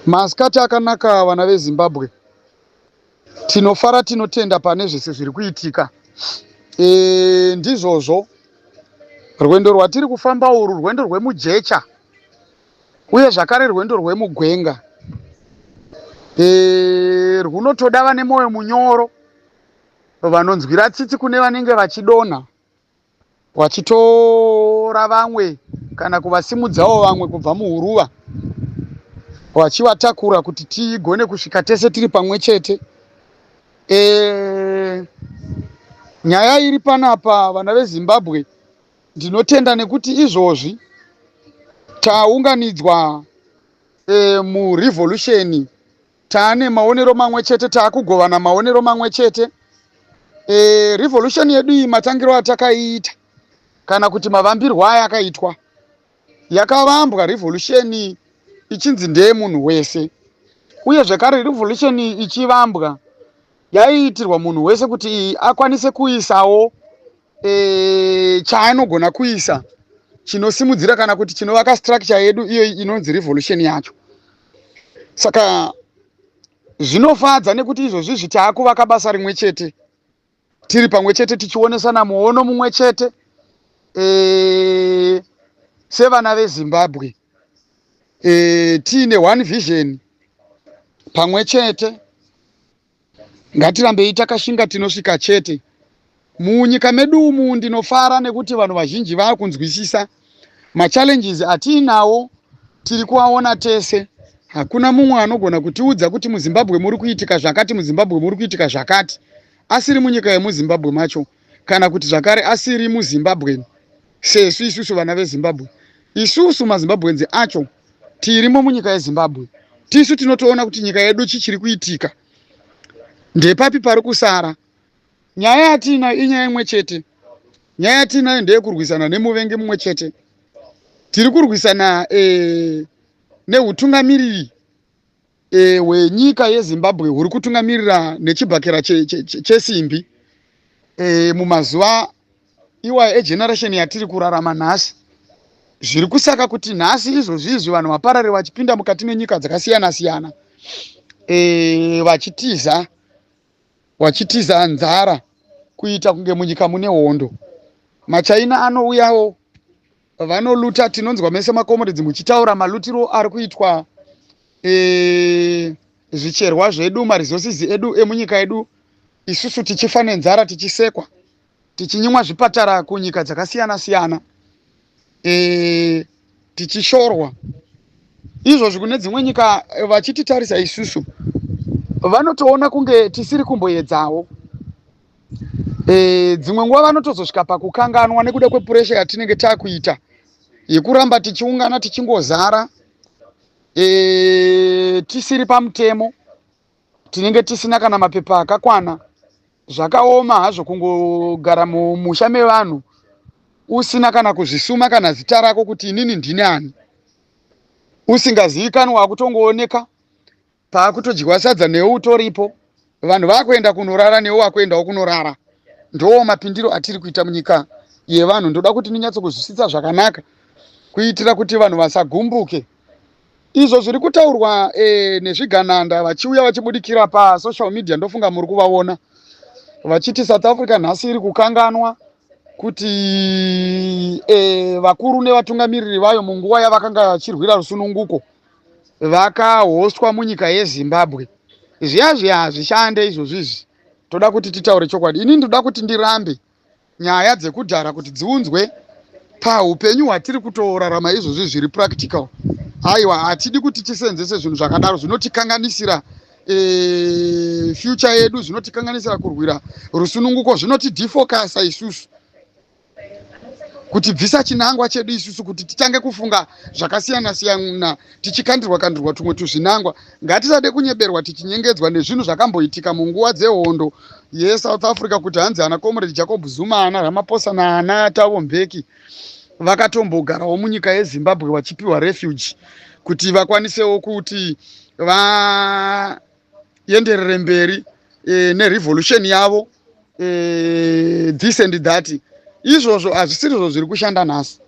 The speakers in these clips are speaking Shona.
Masikati akanaka vana veZimbabwe. Tinofara tinotenda pane zvese zviri kuitika. E, ndizvozvo rwendo rwatiri kufamba urwu rwendo rwemujecha uye zvakare rwendo rwemugwenga e, rwunotoda vane mwoyo munyoro vanonzwira tsitsi kune vanenge vachidonha wachitora vamwe kana kuvasimudzawo vamwe kubva muhuruva wachivatakura kuti tigone kusvika tese tiri pamwe chete e, nyaya iri panapa vana vezimbabwe ndinotenda nekuti izvozvi taunganidzwa e, murevolution Tane maonero mamwe chete, takugovana maonero mamwe chete. E, revolution yedu iyi matangiro atakaiita kana kuti mavambirwo aya akaitwa yakavambwa revolution ichinzi ndeye munhu wese uye zvekare revolution ichivambwa yaiitirwa munhu wese kuti akwanise kuisawo e, chaanogona kuisa chinosimudzira kana kuti chinovaka structure yedu iyo inonzi revolution yacho saka zvinofadza nekuti izvozvi zvitaakuvaka basa rimwe chete tiri pamwe chete tichionesana muono mumwe chete e, sevana vezimbabwe e, tiine one vision pamwe chete Ngatirambei takashinga tinosvika chete. Munyika medu umu ndinofara nekuti vanhu vazhinji vakunzwisisa machallenges atiinawo tiri kuaona tese. Hakuna mumwe anogona kutiudza kuti muZimbabwe muri kuitika zvakati, muZimbabwe muri kuitika zvakati asiri munyika yemuZimbabwe macho kana kuti zvakare asiri muZimbabwe sesu isusu vana veZimbabwe. Isusu maZimbabwenzi acho tirimo munyika yezimbabwe tisu tinotoona kuti nyika yedu chi chiri kuitika ndepapi pari kusara nyaya yatiinayo inyaya imwe chete nyaya yatiinayo ndeyekurwisana nemuvengi mumwe chete tiri kurwisana e, neutungamiriri eh, hwenyika yezimbabwe huri kutungamirira nechibhakera chesimbi che, che, che eh, mumazuva iwayo egeneration yatiri kurarama nhasi zviri kusaka kuti nhasi izvozvi izvi vanhu vaparare vachipinda mukati menyika dzakasiyana siyana e, vachitiza vachitiza nzara kuita kunge munyika mune hondo machaina anouyawo vanoluta tinonzwa mese makomuridzi muchitaura malutiro ari kuitwa e, zvicherwa zvedu maresources edu emunyika yedu isusu tichifa nenzara tichisekwa tichinyimwa zvipatara kunyika dzakasiyana siyana e, tichishorwa izvozvi kune dzimwe nyika eh, vachititarisa isusu vanotoona kunge tisiri kumboedzawo e, dzimwe nguva vanotozosvika pakukanganwa nekuda kwepuresha yatinenge takuita yekuramba tichiungana tichingozara e, tisiri pamutemo tinenge tisina kana mapepa akakwana zvakaoma hazvo kungogara mumusha mevanhu usina kana kuzvisuma kana zita rako kuti inini ndini ani usingazivikanwa wakutongooneka pakutodyiwa sadza newe utoripo vanhu vakuenda kunorara newe wakuendawo kunorara ndoo mapindiro atiri kuita munyika yevanhu ndoda kuti ninyatsokuzwisisa zvakanaka kuitira kuti vanhu vasagumbuke izvo zviri kutaurwa e, nezvigananda vachiuya vachibudikira pasocial media ndofunga muri kuvaona vachiti south africa nhasi iri kukanganwa kuti e, vakuru nevatungamiriri vayo munguva yavakanga vachirwira rusununguko vakahostwa munyika yezimbabwe zviya zviya hazvishande izvozvi izvi toda kuti titaure chokwadi ini ndoda kuti ndirambe nyaya dzekudhara kuti dziunzwe paupenyu hwatiri kutorarama izvozvi zviri practical aiwa hatidi kuti tiseenzese zvinhu zvakadaro zvinotikanganisira e, future yedu zvinotikanganisira kurwira rusununguko zvinoti defocasa isusu kutibvisa chinangwa chedu isusu kuti titange kufunga zvakasiyana siyana tichikandirwa kandirwa tumwe tuzvinangwa ngatisade kunyeberwa tichinyengedzwa nezvinhu zvakamboitika munguva dzehondo yesouth africa kuti hanzi ana comrade jacob zuma ana ramaposa naana tavo mbeki vakatombogarawo munyika yezimbabwe vachipiwa refuge kuti vakwanisewo kuti va vaenderere mberi e, nerevolution yavo e, this and that izvozvo hazvisirizvo zviri kushanda nhasi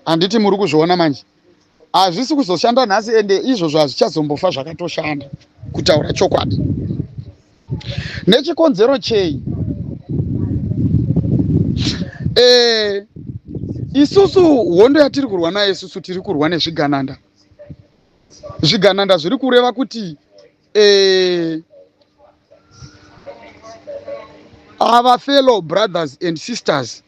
handiti muri kuzviona manje hazvisi kuzoshanda nhasi ende izvozvo hazvichazombofa zvakatoshanda kutaura chokwadi nechikonzero chei e, isusu hondo yatiri kurwa nayo isusu tiri kurwa nezvigananda zvigananda zviri kureva kuti eh, ava fellow brothers and sisters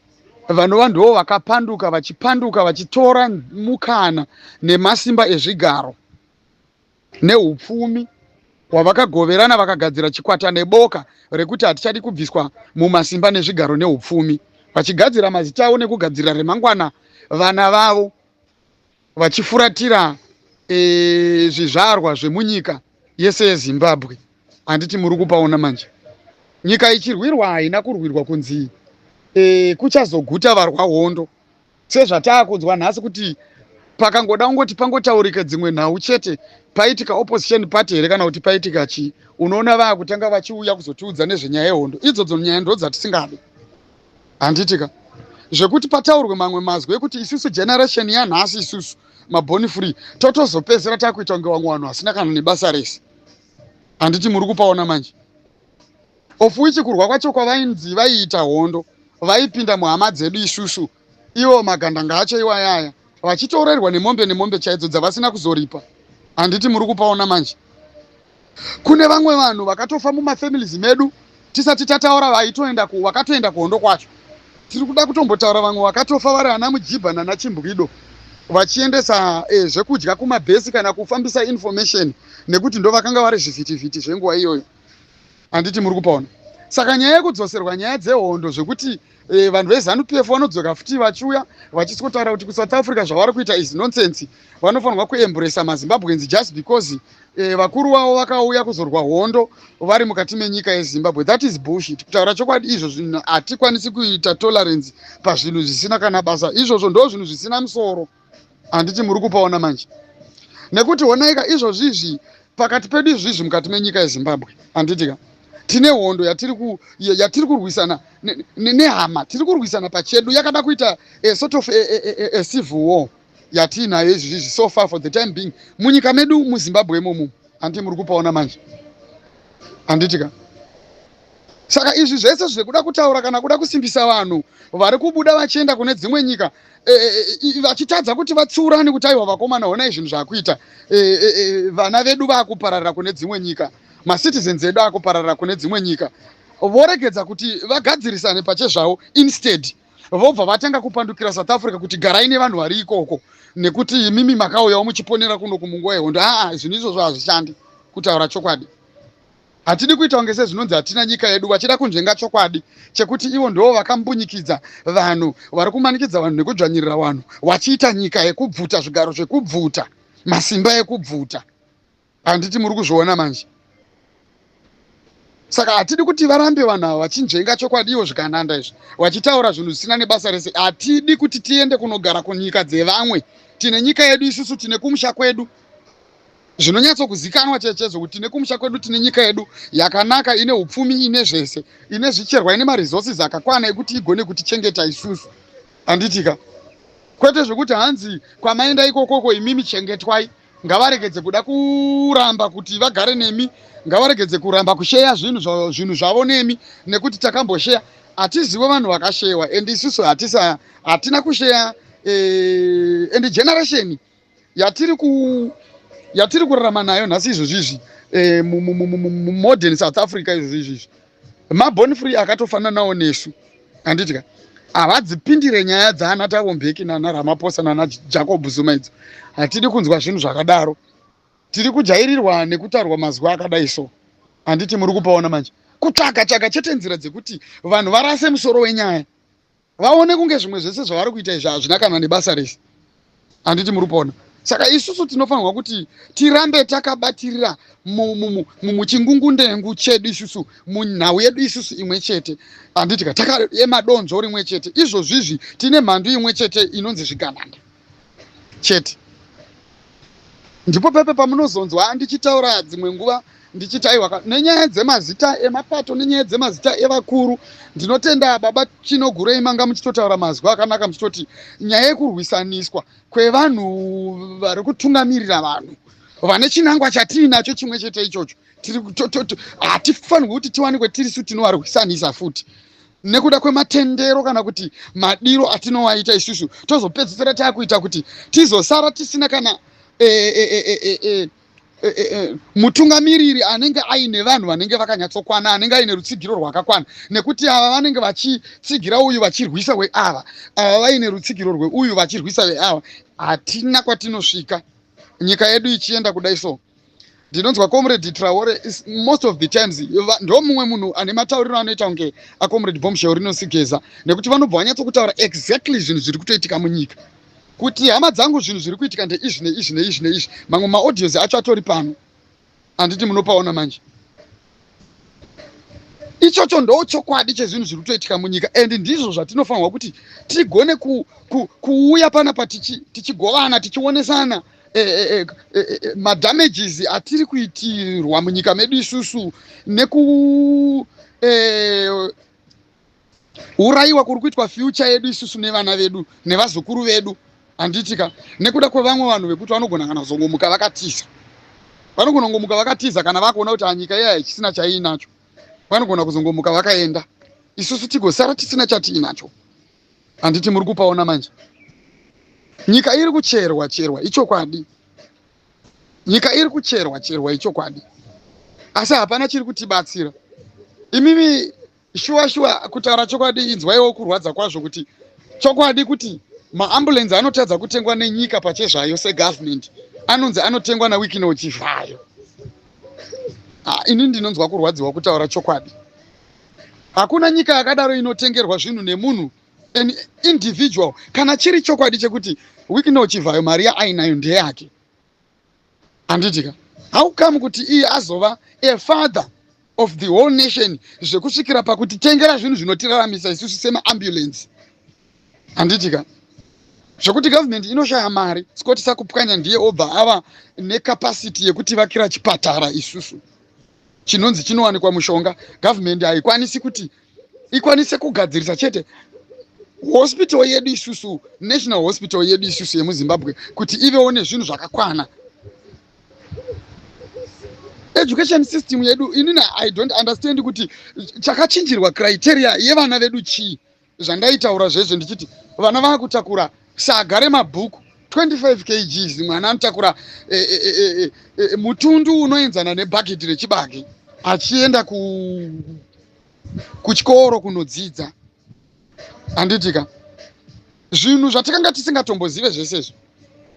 vanova ndivo vakapanduka vachipanduka vachitora mukana nemasimba ezvigaro neupfumi hwavakagoverana vakagadzira chikwata neboka rekuti hatichadi kubviswa mumasimba nezvigaro neupfumi vachigadzira mazita avo nekugadzirira remangwana vana vavo vachifuratira e, zvizvarwa zvemunyika yese yezimbabwe handiti muri kupaona manje nyika ichirwirwa haina kurwirwa kunzi e, kuchazoguta varwa hondo sezvataakunzwa nhasi kuti pakangoda kungoti pangotaurika dzimwe nhau chete paitika opposition party here kana kuti paitika chii unoona vaakutanga vachiuya kuzotiudza nezvenyaya yehondo idzodzo nyaya ndo dzatisingadi handiti ka zvekuti pataurwe mamwe mazwi ekuti isusu generation yanhasi isusu maboni free totozopedzisira takuita kunge vamwe vanhu vasina kana nebasa rese handiti muri kupaona manje of which kurwa kwacho kwavainzi vaiita hondo vaipinda muhama dzedu isusu ivo magandanga acho iwayaya vachitoorerwa nemombe nemombe chaidzo dzavasina kuzoripa handiti muri kupaona manje Kune vamwe vanhu vakatofa mumafamilies medu tisati tataura vaitoenda ku wakatoenda kuhondo kwacho. Tiri kuda kutombotaura vamwe vakatofa vari ana Mujibha nana Chimbwido vachiendesa eh, zvekudya kumabhesi kana kufambisa information nekuti ndo vakanga vari zvivhitivhiti zvenguva iyoyo. Handiti muri kupaona? Saka nyaya yekudzoserwa nyaya dzehondo zvekuti e, vanhu vezanu pf vanodzoka futi vachiuya vachisikotaura kuti kusouth africa zvavari kuita is nonsense vanofanirwa kuembresa mazimbabweans just because e, vakuru vavo vakauya kuzorwa hondo vari mukati menyika yezimbabwe that is bullshit kutaura chokwadi izvo zvinhu hatikwanisi kuita tolerance pazvinhu zvisina kana basa izvozvo ndo zvinhu zvisina musoro handiti muri kupaona manje nekuti honaika izvozvi izvi pakati pedu izvi izvi mukati menyika yezimbabwe handitika tine hondo yatiri kurwisana nehama tiri kurwisana pachedu yakada kuita a sort of a civil war yatiinayo izvi izvi so far for the time being munyika medu muzimbabwe imomu handiti muri kupaona manje handitika saka izvi zvese zvekuda kutaura kana kuda kusimbisa vanhu vari kubuda vachienda kune dzimwe nyika vachitadza kuti vatsiurane kuti aiwa vakomana honai zvinhu zvakuita vana vedu vakupararira kune dzimwe nyika macitizens edu akupararira kune dzimwe nyika voregedza kuti vagadzirisane pachezvavo instead vobva vatanga kupandukira south africa kuti garai nevanhu vari ikoko nekuti imimi makauyawo muchiponera kuno kumunguva yehondo aa zvinhu izvozvo hazvishandi kutaura chokwadi Hatidi kuita kunge sezvinonzi hatina nyika yedu vachida kunzvenga chokwadi chekuti ivo ndivo vakambunyikidza vanhu vari kumanikidza vanhu nekudzvanyirira vanhu vachiita nyika yekubvuta zvigaro zvekubvuta masimba ekubvuta handiti muri kuzviona manje saka hatidi kuti varambe vanhu ava vachinzvenga chokwadi ivo zvikananda izvi vachitaura zvinhu zvisina nebasa rese hatidi kuti tiende kunogara kunyika dzevamwe tine nyika yedu isusu tine kumusha kwedu zvinonyatsokuzikanwa chechedzo kuti nekumusha kwedu tine nyika yedu yakanaka ine upfumi ine zvese ine zvicherwa ine maresources akakwana ekuti igone kutichengeta isusu handitika kwete zvekuti hanzi kwamaenda ikokoko imimi chengetwai ngavaregedze kuda kuramba kuti vagare nemi ngavaregedze kuramba kusheya zvinhu zvinhu zvavo nemi nekuti takambosheya hatizivo vanhu vakasheyewa and isusu hatisa hatina kusheya eh, and generation yatiri ku yatiri kurarama nayo nhasi izvozvizvi eh, mumodern south africa izvozvizvizvi mabon free akatofananawo nesu handiti ka havadzipindire nyaya dzaana tavo mbeki nana ramaposa nana jacob zuma idzo hatidi kunzwa zvinhu zvakadaro tiri kujairirwa nekutarwa mazwi akadai so handiti muri kupaona manje kutsvaga tsvaga chete nzira dzekuti vanhu varase musoro wenyaya vaone kunge zvimwe zvese zvavari kuita izvi hazvina kana nebasa rese handiti muri kuona saka isusu tinofanirwa kuti tirambe takabatirira muchingungundeengu chedu isusu munhau yedu isusu imwe chete handitika takaemadonzo rimwe chete izvozvizvi tine mhandu imwe chete inonzi zvigananda chete ndipo pepe pamunozonzwa andichitaura dzimwe nguva ndichiti aiwa nenyaya dzemazita emapato nenyaya dzemazita evakuru ndinotenda baba chinogurei manga muchitotaura mazwi akanaka muchitoti nyaya yekurwisaniswa kwevanhu vari kutungamirira vanhu vane chinangwa chatiinacho chimwe chete ichocho hatifanirwi kuti tiwanikwe tirisu tinovarwisanisa futi nekuda kwematendero kana kuti madiro atinowaita isusu tozopedzisira taakuita kuti tizosara tisina kana eh, eh, eh, Eh, eh, eh, mutungamiriri anenge aine vanhu vanenge vakanyatsokwana anenge aine rutsigiro rwakakwana nekuti ava vanenge vachitsigira uyu vachirwisa weava ava vaine rutsigiro rweuyu vachirwisa veava hatina kwatinosvika nyika yedu ichienda kudai so ndinonzwa comrade traore most of the times ndo mumwe munhu ane matauriro anoita kunge acomrade bombshell rinosigeza nekuti vanobva vanyatsokutaura exactly zvinhu zviri kutoitika munyika kuti hama dzangu zvinhu zviri kuitika ndeizvi neizvi neizvi neizvi mamwe maaudios acho atori pano handiti munopaona manje ichocho ndo chokwadi chezvinhu zviri kutoitika munyika and ndizvo zvatinofanirwa kuti tigone ku, ku, kuuya panapa tichigovana tichi tichionesana eh, eh, eh, eh, madamages atiri kuitirwa munyika medu isusu neku eh, kuurayiwa kuri kuitwa fyucha yedu isusu nevana vedu nevazukuru vedu handitika nekuda kwevamwe vanhu vekuti vanogona kana kuzongomuka vakatiza vanogona kungomuka vakatiza kana vakuona kuti anyika ah, iya hachisina chaiinacho vanogona kuzongomuka vakaenda isusu tigosara tisina chatiinacho handiti muri kupaona manje nyika iri kucherwa cherwa ichokwadi nyika iri kucherwa cherwa ichokwadi asi hapana chiri kutibatsira imimi shuwa shuwa kutaura chokwadi inzwaiwo kurwadza kwazvo kuti chokwadi kuti maambulensi anotadza kutengwa nenyika pachezvayo segovernment anonzi anotengwa nawikino chizvayo ah, ini ndinonzwa kurwadziwa kutaura chokwadi hakuna nyika yakadaro inotengerwa zvinhu nemunhu an individual kana chiri chokwadi chekuti wikino chivhayo mari yaainayo ndeyake Handiti ka? How come kuti iye azova a father of the whole nation zvekusvikira pakutitengera zvinhu zvinotiraramisa isusu semaambulensi? Handiti ka? Zvekuti government inoshaya mari, Scott Sakupwanya ndiye obva ava necapacity yekuti vakira chipatara isusu chinonzi chinowanikwa mushonga, government haikwanisi kuti ikwanise kugadzirisa chete hospital yedu isusu national hospital yedu isusu yemuzimbabwe kuti ivewo nezvinhu zvakakwana education system yedu inini i don't understand kuti chakachinjirwa criteria yevana vedu chii zvandaitaura zvezvo ndichiti vana vakutakura saga remabhuku 25 kgs mwana anotakura e, e, e, mutundu unoenzana nebhageti rechibage achienda ku kuchikoro kunodzidza handitika zvinhu zvatakanga tisingatombozive zvese izvo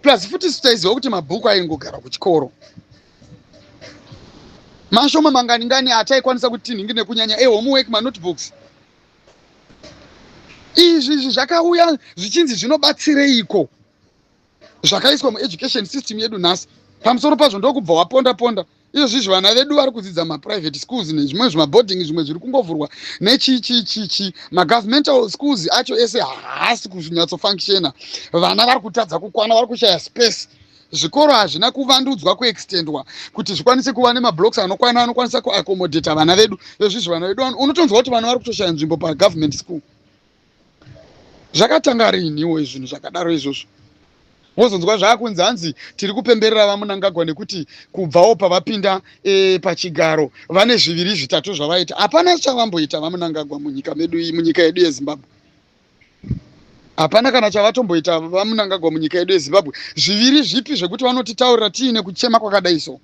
plus futi isu taiziva kuti mabhuku aingogara kuchikoro mashoma mangani ngani ataikwanisa kuti tinhingi nekunyanya ehomework manotebooks izvi izvi zvakauya zvichinzi zvinobatsireiko zvakaiswa mueducation system yedu nhasi pamusoro pazvo ndokubva waponda ponda izvozvizvi vana vedu vari kudzidza maprivate schools nezvimwe zvimaboarding zvimwe zviri kungovhurwa nechichichichi magovernmental schools acho ese haasi kunyatsofunctiona vana vari kutadza kukwana vari kushaya space zvikoro hazvina kuvandudzwa kuextendwa kuti zvikwanise kuva nemablocks anokwana anokwanisa kuaccomodata vana vedu vezvizvi vana vedu unotonzwa kuti vana vari kutoshaya nzvimbo pagovernment school zvakatanga riiniwo izvinhu zvakadaro izvozvo mozonzwa zvaakunzi hanzi tiri kupemberera vamunangagwa nekuti kubvawo pavapinda e, pachigaro vane zviviri zvitatu zvavaita hapana chavamboita vamunangagwa munyika medu munyika yedu yezimbabwe hapana kana chavatomboita vamunangagwa munyika yedu yezimbabwe zviviri zvipi zvekuti vanotitaurira tiine kuchema kwakadai so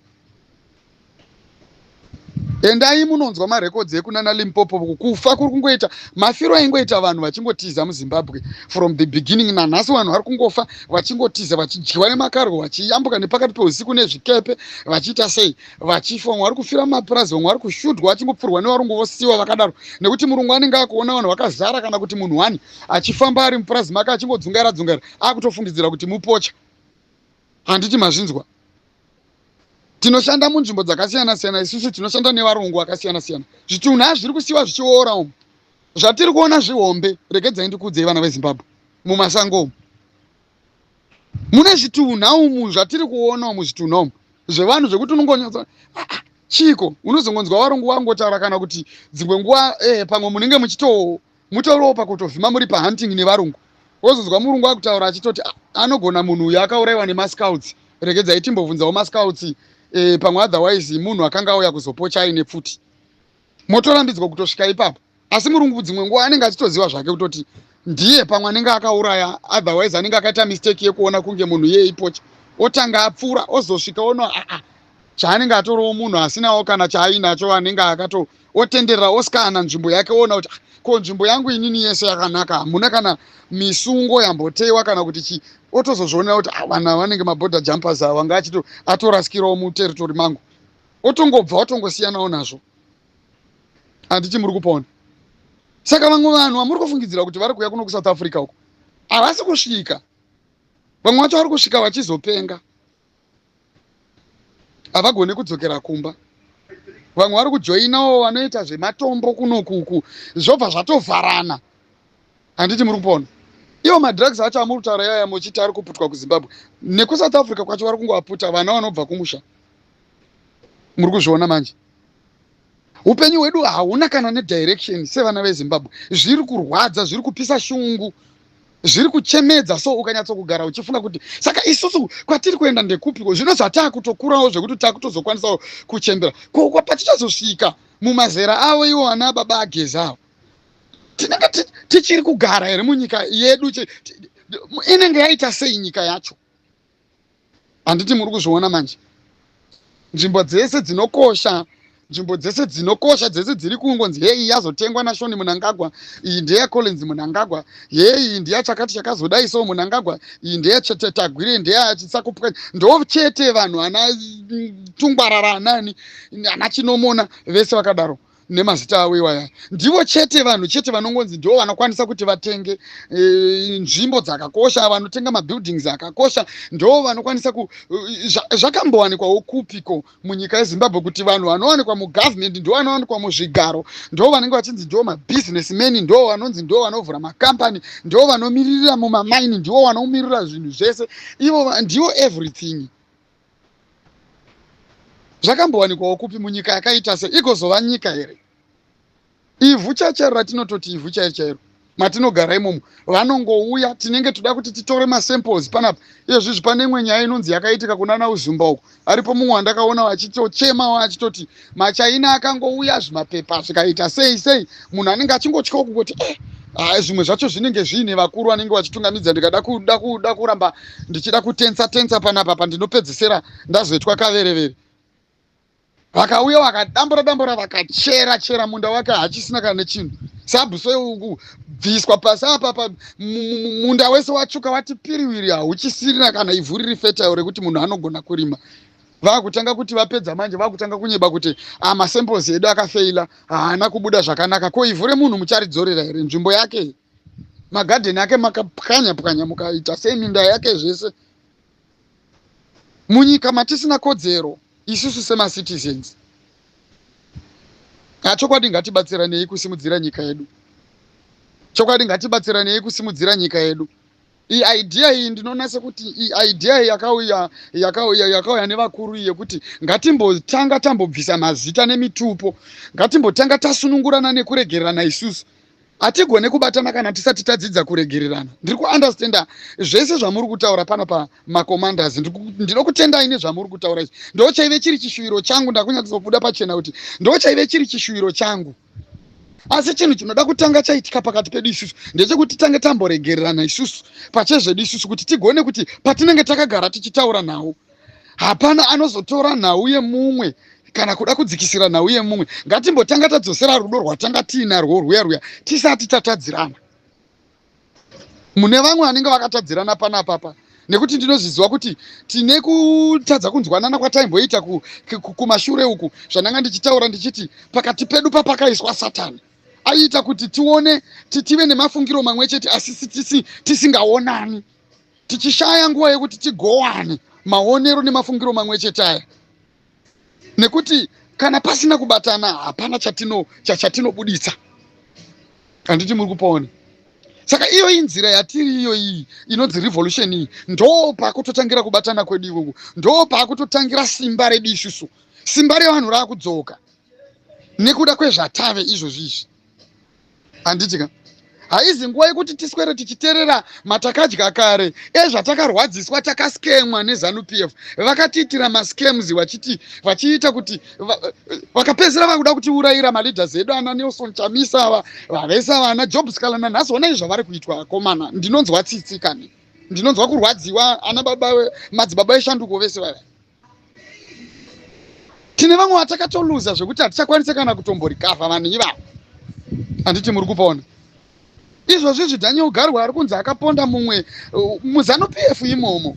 endai munonzwa marekodzi ekunana limpopo kufa kuri kungoita mafiro aingoita vanhu vachingotiza muzimbabwe from the beginning nanhasi vanhu vari kungofa vachingotiza vachidyiwa nemakarwo vachiyambuka nepakati peusiku nezvikepe vachiita sei vachifa vamwe vari kufira mumapurazi vamwe vari kushudhwa vachingopfurwa nevarungu vosiwa vakadaro nekuti murungu anenge akuona vanhu vakazara kana kuti munhu wani achifamba ari mupurazi make achingodzungaira dzungaira akutofungidzira kuti mupocha Handiti mazvinzwa? Tinoshanda munzvimbo dzakasiyana siyana isusu tinoshanda nevarungu vakasiyana siyana. Zvitunha zviri kusiwa zvichiora umu. Zvatiri kuona zvihombe, regedzai ndikuudzei vana veZimbabwe mumasango umu. Mune zvitunha umu zvatiri kuona umu zvitunha umu zvevanhu zvekuti unongonyatsa ah, ah, chiko unozongonzwa varungu vangotaura kana kuti dzimwe nguva eh, pamwe munenge muchito Mutoropa kutovhima muri pa hunting nevarungu wozonzwa murungu akutaura achitoti ah, anogona munhu uyo akauraiwa nemascouts regedzai timbobvunzawo mascouts eh, pamwe otherwise munhu akanga auya kuzopocha aine pfuti motorambidzwa kutosvika ipapo asi murungu dzimwe nguva anenge achitoziva zvake kutoti ndiye pamwe anenge akauraya otherwise anenge akaita mistake yekuona kunge munhu iye ipocha otanga apfuura ozosvika ono aa ah, ah, chaanenge atorowo munhu asinawo kana chaainacho anenge akato otenderera oskana nzvimbo yake oona kuti ah, ko nzvimbo yangu inini yese yakanaka hamuna kana misungo yamboteiwa kana kuti chii otozozvionera kuti ah, vanhu vanenge maborder jumpers ava anga achito atorasikirawo muterritori mangu otongobva otongosiyanawo nazvo handiti muri kupona saka vamwe vanhu vamuri kufungidzira kuti vari kuuya kuno kusouth africa uko havasi kusvika vamwe vacho vari kusvika vachizopenga havagone kudzokera kumba vamwe vari kujoinawo vanoita zvematombo kunokuku zvobva zvatovharana handiti muri kupona iwo madrugs acho amuri kutaura yaya muchiti ari kuputwa kuzimbabwe nekusouth africa kwacho vari kungoaputa vana vanobva kumusha muri kuzviona manje Upenyu hwedu hauna kana nedirection sevana veZimbabwe. Zviri kurwadza, zviri kupisa shungu, zviri kuchemedza so ukanyatsokugara uchifunga kuti saka isusu kwatiri kuenda ndekupiko zvino zvataakutokurawo zvekuti taakutozokwanisawo kuchembera ko kwapatichazosvika mumazera avo iwo ana baba agezi avo tinenge tichiri kugara here munyika yedu inenge yaita sei nyika yacho handiti muri kuzviona manje nzvimbo dzese dzinokosha nzvimbo dzese dzinokosha dzese dziri kungonzi heyi yazotengwa nashoni munangagwa iyi ndeyacollins munangagwa heyi iyi ndeyachakati chakazodai so munangagwa iyi ndeyachetetagwire ndeyachisakupwa ndo chete vanhu ana mm, tungwarara anani ana chinomona vese vakadaro nemazita avo iwaya ndivo chete vanhu chete vanongonzi ndivo vanokwanisa kuti vatenge e, nzvimbo dzakakosha vanotenga mabuildings akakosha ndivo vanokwanisa ku e, zvakambowanikwawo kupiko munyika yezimbabwe kuti vanhu vanowanikwa mugovernment ndivo vanowanikwa muzvigaro ndivo vanenge vachinzi ndivo mabusiness man ndivo vanonzi ndivo vanovhura macompany ndivo vanomiririra mumamaini ndivo vanomirira zvinhu zvese ivo ndivo everything zvakambowanikwawo kupi munyika yakaita se igozova nyika here ivhu chachero ratinototi ivhu chairo chairo matinogara imomo vanongouya tinenge toda kuti titore masamples panapa iyezvizvi pane imwe nyaya inonzi yakaitika kunana uzumba uko aripo mumwe wandakaona vachitochemawo achitoti machaina akangouya zvimapepa zvikaita sei sei munhu anenge achingotyawo kungoti eh ah, zvimwe zvacho zvinenge zviine vakuru vanenge vachitungamidza ndikada kuda kuda kuramba ndichida kutensa tensa panapa pandinopedzisira ndazoitwa kaverevere vakauya vakadambura dambura vakachera chera munda wake hachisina kana nechinhu sabhuso uku bviswa pasi apapa munda wese watsvuka wati piriwiri hauchisirina kana ivhu riri fetayo rekuti munhu anogona kurima vakutanga kuti vapedza manje vakutanga kunyeba kuti ah, masemples edu akafeila haana kubuda zvakanaka ko ivhu remunhu mucharidzorera here nzvimbo yake magadheni ake makapwanya pwanya mukaita sei minda yake zvese munyika matisina kodzero isusu semacitizens achokwadi ngatibatsiranei kusimudzira nyika yedu chokwadi ngatibatsiranei kusimudzira nyika yedu iidea iyi ndinoona sekuti iidea iyi yakauya yakauya yakauya nevakuru yekuti ngatimbotanga tambobvisa mazita nemitupo ngatimbotanga tasunungurana nekuregererana isusu hatigone kubatana kana tisati tadzidza kuregererana ndiri kuunderstanda zvese zvamuri kutaura pano pamacommanders ndinokutendai nezvamuri kutaura izvi ndo chaive chiri chishuviro changu ndakunyatsobuda pachena kuti ndo chaive chiri chishuviro changu asi chinhu chinoda kutanga chaitika pakati pedu isusu ndechekuti tange tamboregererana isusu pachezvedu isusu kuti tigone kuti patinenge takagara tichitaura nhau hapana anozotora nhau yemumwe kana kuda kudzikisira nhau yemumwe ngatimbotanga tadzosera rudo rwatanga tiinarwo rwuya rwuya tisati tatadzirana mune vamwe vanenge vakatadzirana panapapa nekuti ndinozviziva kuti tine kutadza kunzwanana kwataimboita kumashure ku, ku, uku zvandanga ndichitaura ndichiti pakati pedu papakaiswa satani aiita kuti tione tive nemafungiro mamwe chete asi tisingaonani tichishaya nguva yekuti tigowane maonero nemafungiro mamwe chete aya nekuti kana pasina kubatana hapana chatino chatinobuditsa handiti muri kupaona saka iyo inzira yatiri iyo iyi inonzi revolution iyi ndo pakutotangira kubatana kwedu ikoko ndo pakutotangira simba redu isusu simba revanhu raakudzoka nekuda kwezvatave izvozvi izvi handiti ka haizi nguva yekuti tiswere tichiterera matakadya kare ezvatakarwadziswa takaskemwa nezanupf vakatiitira mascams vachiti vachiita kuti vakapedzisira vakuda kutiurayira maleaders edu ana nelson chamisa ava vavese ava ana job scala nanhasi onai zvavari kuitwa akomana ndinonzwa tsitsi kani ndinonzwa kurwadziwa ana baba madzibaba eshanduko vese vava tine vamwe vatakatoluza zvekuti hatichakwanise kana kutomborikavha vanhu ivavo handiti muri kupona izvozvi zvidaniel garwe ari kunzi akaponda mumwe uh, muzanu p f imomo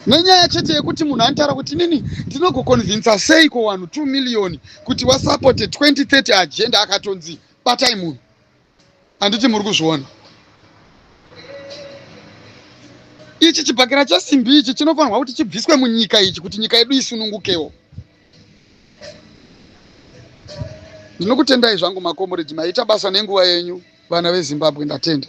nenyaya chete yekuti munhu anotaura kuti inini ndinogokonvinsa sei ko vanhu 2 miriyoni kuti wasapote 2030 agenda akatonzi batai munhu handiti muri kuzviona ichi chibhakera chesimbi ichi chinofanirwa kuti chibviswe munyika ichi kuti nyika yedu isunungukewo ndinokutendai zvangu makomuridhi maita basa nenguva yenyu vana vezimbabwe ndatenda